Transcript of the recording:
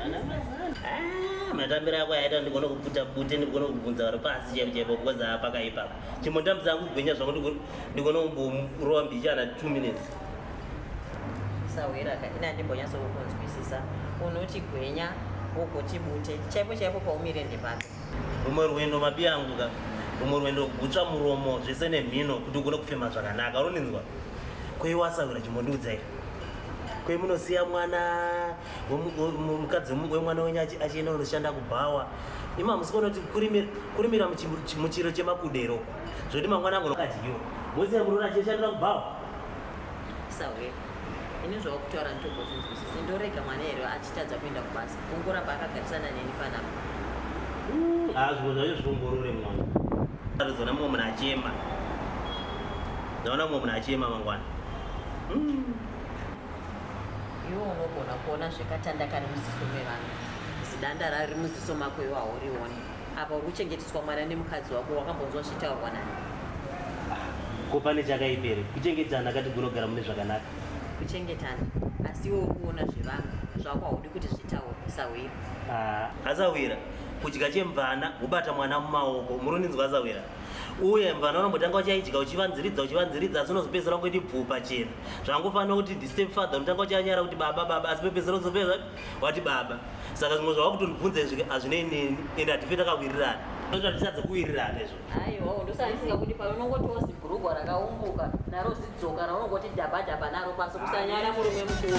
Ah, matambiro ako aita ndigona kuputa bute ndigona kubvunza vari pasi chaipo chaipo because apaka ipapa chimbondambisa kugwinya zvangu ndigona kumborova mbichana two minutes sahwira ka ini andimbonyatso kukunzwisisa unoti gwenya wogoti bute chaipo chaipo paumire ndepapi rumwe rwendo mabi angu ka rumwe rwendo kugutsva muromo zvese nemhino kuti ugone kufema zvakanaka runinzwa kweiwasahwira chimbondiudzaira kwemunosiya mwana mukadzi wemwana wenyu achienda unoshanda kubhawa ima musiko unoti kurimira muchiro chemakudero zvoti mangwana angu akadyiwa mose muruona achishandira kubhawa sawe ini zvawakutaura nditobozvinzwisisi ndorega mwana here achitadza kuenda kubasa kungoramba akagarisana neni panapa hazvo zvacho zviongorore mwana atozoona mumwe munhu achema ndaona mumwe munhu achema mangwana hmm. Iwe unogona kuona zvekatanda kari muziso mevanhu zidanda rari muziso mako iwe haurioni apa uri kuchengeteswa mwana nemukadzi wako wakambonzwa zvitaurwa nani ko pane chakaipere kuchengetana kati gunogara mune zvakanaka kuchengetana asi iwe uri kuona zvevanhu zvako haudi kuti zvitaure sahwira asahwira kudya chemvana kubata mwana mumaoko muruninzwa asahwira uye mvana unombotanga uchaidya uchivanziridza uchivanziridza asi unozopedzisira kuiti bvupa chena zvangofanira kuti the step father unotanga uchanyara kuti baba baba asi pepezero zopeza wati baba saka zvimwe zvava kutondibvunza izvi hazvinei neni ende hatife takawirirana toita tichadze kuwirirana izvo aiwa ndosaisinga kuti pano unongotiwo zibhurugwa rakaumbuka naro zidzoka raunongoti dhaba dhaba naro pasi kusanyara murume mukuru